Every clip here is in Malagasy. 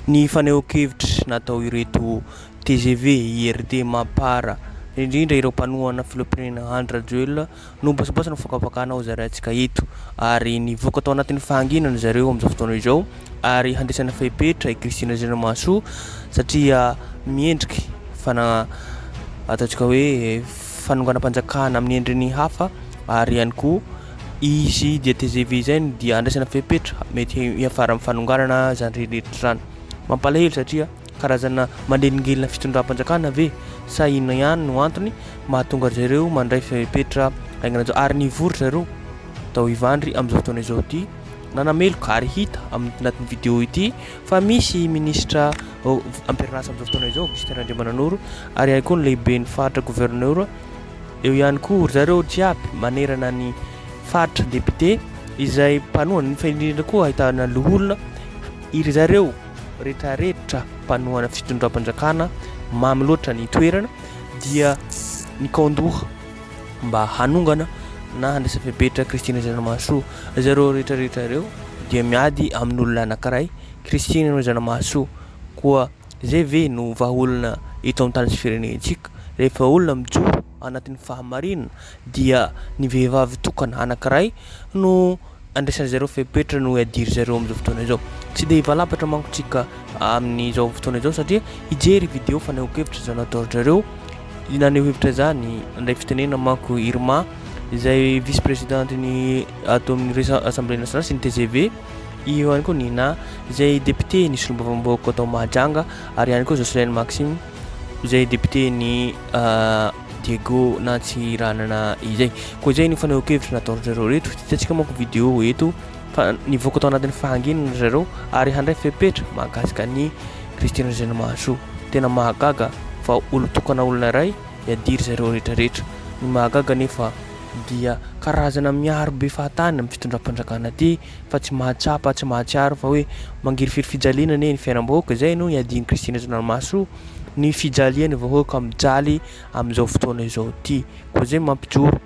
Ny fanehoan-kevitra natao ireto tgv IRD Mapar, indrindra ireo mpanohana filoham-pirenena Andry Rajoelina no mibasobaso ny fakafakana ho zaraintsika eto ary nivoaka tao anatin'ny fahanginana zareo amin'izao fotoana izao ary handraisana fepetra i Christine Razanamahasoa satria miendrika fana ataontsika hoe fanonganam-panjakana amin'ny endriny hafa ary ihany koa Izy dia tgv izay no dia andraisana fepetra mety hiafara amin'ny fanonganana izany rehetra izany. Mampalahelo satria karazana manelingelina fitondram-panjakana ve sa inona ihany no antony mahatonga ry zareo mandray fepetra haingana izao ary nivory ry zareo tao Ivandry amin'izao fotoana izao ity nanameloka ary hita amin'ny anatin'ny vidéo ity fa misy minisitra ampirinasa amin'izao fotoana izao Augustin Randriamananoro ary ihany koa ny lehiben'ny faritra gouverneur Eo ihany koa ry zareo jiaby manerana ny faritra député izay mpanohana nefa indrindra koa ahitana loholona iry zareo retraretra mpanohana fitondram-panjakana mamy loatra ny toerana dia nikaondoha mba hanongana na handrasa fepetra Christine Zanamahasoa zareo retraretra ireo dia miady amin'olona anankiray Christine Zanamahasoa koa Izay ve no vahaolana eto amin'ny tany sy firenentsika? Rehefa olona mijoro anatin'ny fahamarinana dia ny vehivavy tokana anankiray no andraisan-dry zareo fepetra no iadiry zareo amin'izao fotoana izao. Tsy dia hivalapatra manko tsika amin'izao fotoana izao satria hijery video fanehoan-kevitra izao nataon-dry zareo naneho hevitra izany indray fitenena manko Irma izay vice-présidente ny ato amin'ny Assemblée nationale sy ny TGV. Eo ihany koa Nina, izay député ny solombavambahoaka ato Mahajanga, ary ihany koa Jocelyn Maxime, izay député ny Diego Nantsiranana izay. Koa izay ny fanehoan-kevitra nataon-dry zareo reto, hitantsika manko vidéo eto fa nivoaka tao anatin'ny fahanginana ry zareo ary handray fepetra mahakasika ny Christine Razanamahasoa. Tena mahagaga fa olon-tokana olona iray hiadiry zareo rehetra rehetra. Ny mahagaga anefa. dia karazana miaro be fahatany amin'ny fitondram-panjakana aty fa tsy mahatsapa, tsy mahatsiaro fa hoe mangirifiry fijaliana anie ny fiainam-bahoaka, izay no iadian'i Kristy Rajaonah Rimahasoa, ny fijalian'ny vahoaka mijaly amin'izao fotoana izao ity, koa izay no mampijoro,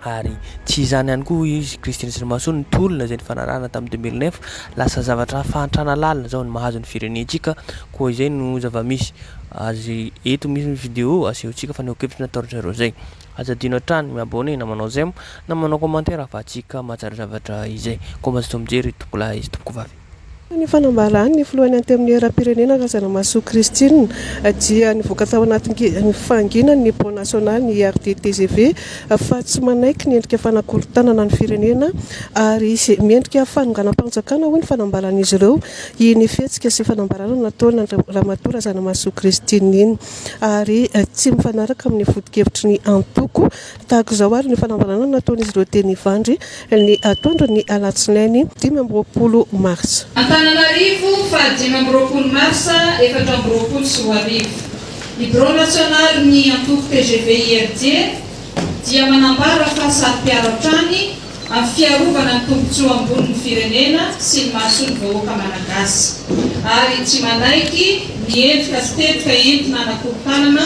ary tsy izany ihany koa hoy izy Kristy Rajaonahrimahasoa ny tolona izay nifanarahana tamin'ny deux mille neuf, lasa zavatra fahantrana lalina izao ny mahazo ny firenentsika, koa izay no zava-misy, azy eto misy ny video asehontsika fa ny hokevitry nataon-dry zareo izay. Aza adino hatrany mi-abonné na manao j'aime na manao commentaire ahafahantsika mahatsara zavatra izay. Koa mba azontsika mijery tompokolahy sy tompokovavy. Tahaka ny fanambarany ny filohan'ny Antenimierampirenena Razanamahasoa Christine dia nivoaka tao anatin'ny fahanginany ny Pont National ny IRD tgv fa tsy manaiky ny endrika fanakorontanana ny firenena ary miendrika fanonganam-panjakana hoy ny fanambaran'izy ireo iny fihetsika sy fanambarana nataon'Andriamatoa Razanamahasoa Christine iny. ary tsy mifanaraka amin'ny foto-kevitry ny antoko. Tahaka izao ary ny fanambarana nataon'izy ireo teny Ivandry ny atoandro ny alatsinainy dimy amby roapolo marsa. Antananarivo, faha dimy amby roapolo marsa efatra amby roapolo sy roa arivo. Ny birao nasionalin'ny antoko tgv-IRD dia manambara fa saro-piaro hatrany Amin'ny fiarovana ny tombontsoa ambonin'ny firenena sy ny mahasoa ny vahoaka Malagasy. Ary tsy manaiky ny endrika sy tetika entina hanakorontanana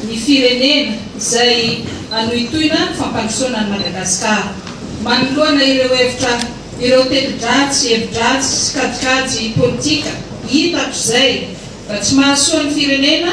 ny firenena izay hanohintohina ny fampandrosoana an'i Madagasikara. Manoloana ireo hevitra ireo teti-dratsy, hevi-dratsy sy kajikajy politika hita hatrizay fa tsy mahasoa ny firenena,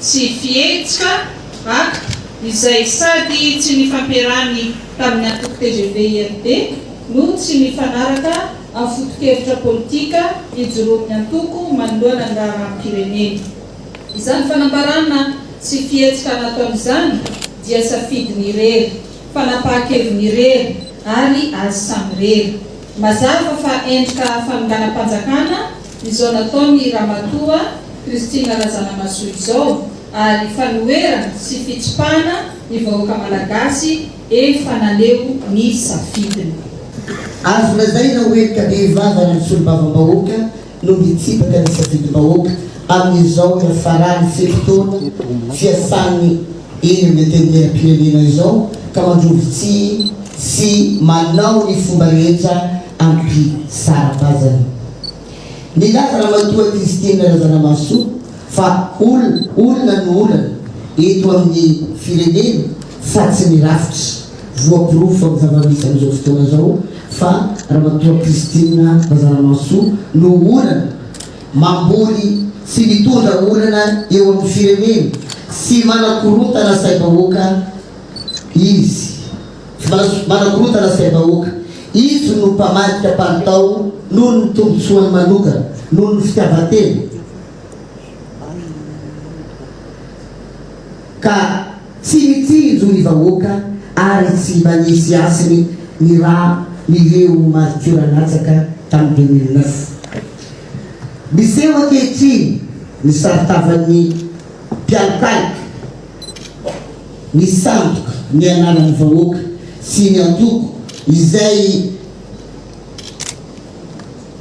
Tsy fihetsika, acte, izay sady tsy nifampiarahany tamin'ny antoko tgv IRD no tsy mifanaraka amin'ny foto-kevitra politika ijoroan'ny antoko manoloana ny raharaham-pirenena. Izany fanambarana tsy fihetsika nataony izany dia safidiny irery, fanapahan-keviny irery ary azy samirery. Mazava fa endrika fanonganam-panjakana Izao nataon'i Ramatoa Christine Razanamahasoa izao ary fanoherana sy fitsipahana ny vahoaka Malagasy efa naneho ny safidiny. Azo lazaina ho henoka bevava ny solombavambahoaka no mitsipaka ny safidim-bahoaka amin'izao hiafaran'ny fito taona fiasàny eny amin'ny Antenimieram-pirenena izao ka mandrovi-tsihy sy manao ny fomba rehetra Ampy sara-paizana. Nilaza Ramatoa Christine Razanamahasoa fa olona olona no olana eto amin'ny firenena fa tsy ny rafitra. Voaporofo amin'ny zava-misy amin'izao fotoana izao fa Ramatoa Christine Razanamahasoa no olana mamboly sy mitondra olana eo amin'ny firenena sy manakorontana saim-bahoaka izy. François, manakorontana sain'ny vahoaka. Izy no mpamadika palitao noho ny tombontsoany manokana, noho ny fitiavan-tena, ka tsy mitsinjo ny vahoaka ary tsy manisy hasiny ny rà nireo maritiora latsaka tamin'ny 2009. Miseho ankehitriny ny saron-tavan'ny mpialokaloka. ny sandoka, ny anaran'ny vahoaka sy ny antoko izay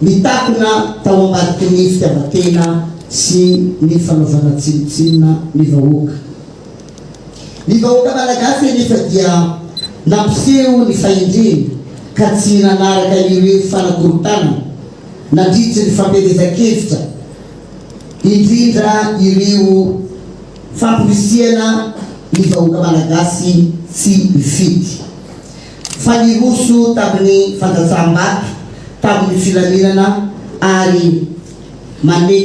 nitakona tao ambadiky ny fitiavan-tena sy ny fanaovana tsinontsinona ny vahoaka. Ny vahoaka malagasy anefa dia nampiseho ny fahendreny ka tsy nanaraka ireo fanakorontanana nandritry ny fampielezan-kevitra indrindra ireo Famporisihana ny vahoaka Malagasy tsy mifidy. Fa niroso tamin'ny fandatsaham-bato tamin'ny filaminana ary mane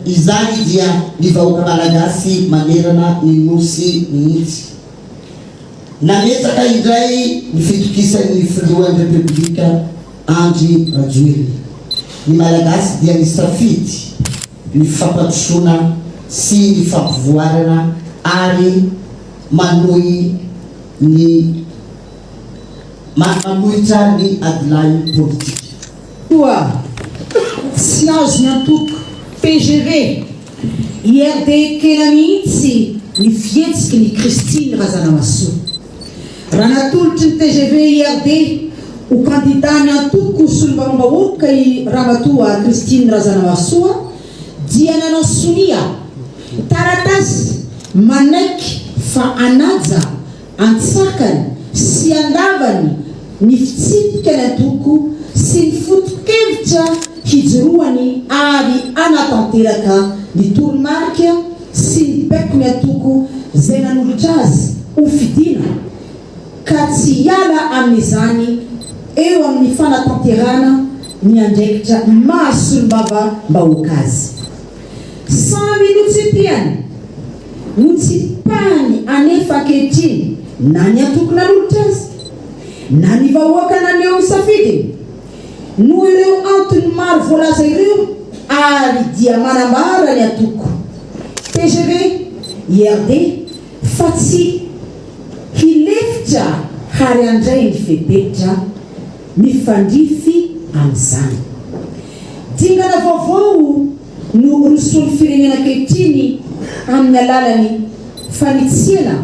izany dia ny vahoaka Malagasy manerana ny Nosy mihitsy. Nametraka indray ny fitokisan'ny Filohan'ny Repoblika Andry Rajoelina. Ny Malagasy dia nisafidy. ny fampandrosoana sy ny fampivoarana ary manohy ny manohitra ny adilahy politika. Toa tsy azony antoka, tgv, i RDKELA mihitsy ny fihetsiky ny Christine Razanamahasoa. Raha natolotry ny tgv IRD ho kandida ny antoko Solombavambahoaka i Ramatoa Christine Razanamahasoa dia nanao sonia taratasy manaiky fa hanaja antsakany sy andavany ny fitsipika ny antoko sy ny foto-kevitra hijoroany ary hanatanteraka ny toromarika sy ny baiko ny antoko izay nanolotra azy ho fidiana ka tsy hiala amin'izany eo amin'ny fanatanterahana ny andraikitra maha solombavambahoaka azy. Samy notsipihany, notsipahiny anefa ankehitriny na ny antoko nanolotra azy na ny vahoaka naneho ny safidiny. Noho ireo antony maro voalaza ireo ary dia manambara ny antoko tgv IRD fa tsy hilefitra hary handray ny fepetra mifandrify amin'izany. Dingana vaovao no rosoin'ny firenena ankehitriny amin'ny alalan'ny fanitsiana.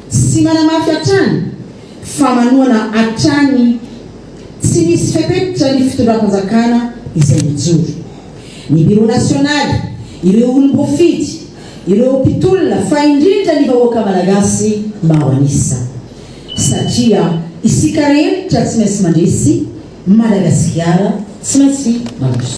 Sy manamafy hatrany fa manohana hatrany tsy misy fepetra ny fitondram-panjakana izay mijoro. Ny Biro Nasionaly, ireo olom-boafidy, ireo mpitolona fa indrindra ny vahoaka Malagasy maro an'isa. Satria isika rehetra tsy maintsy mandresy Madagasikara tsy maintsy mandroso.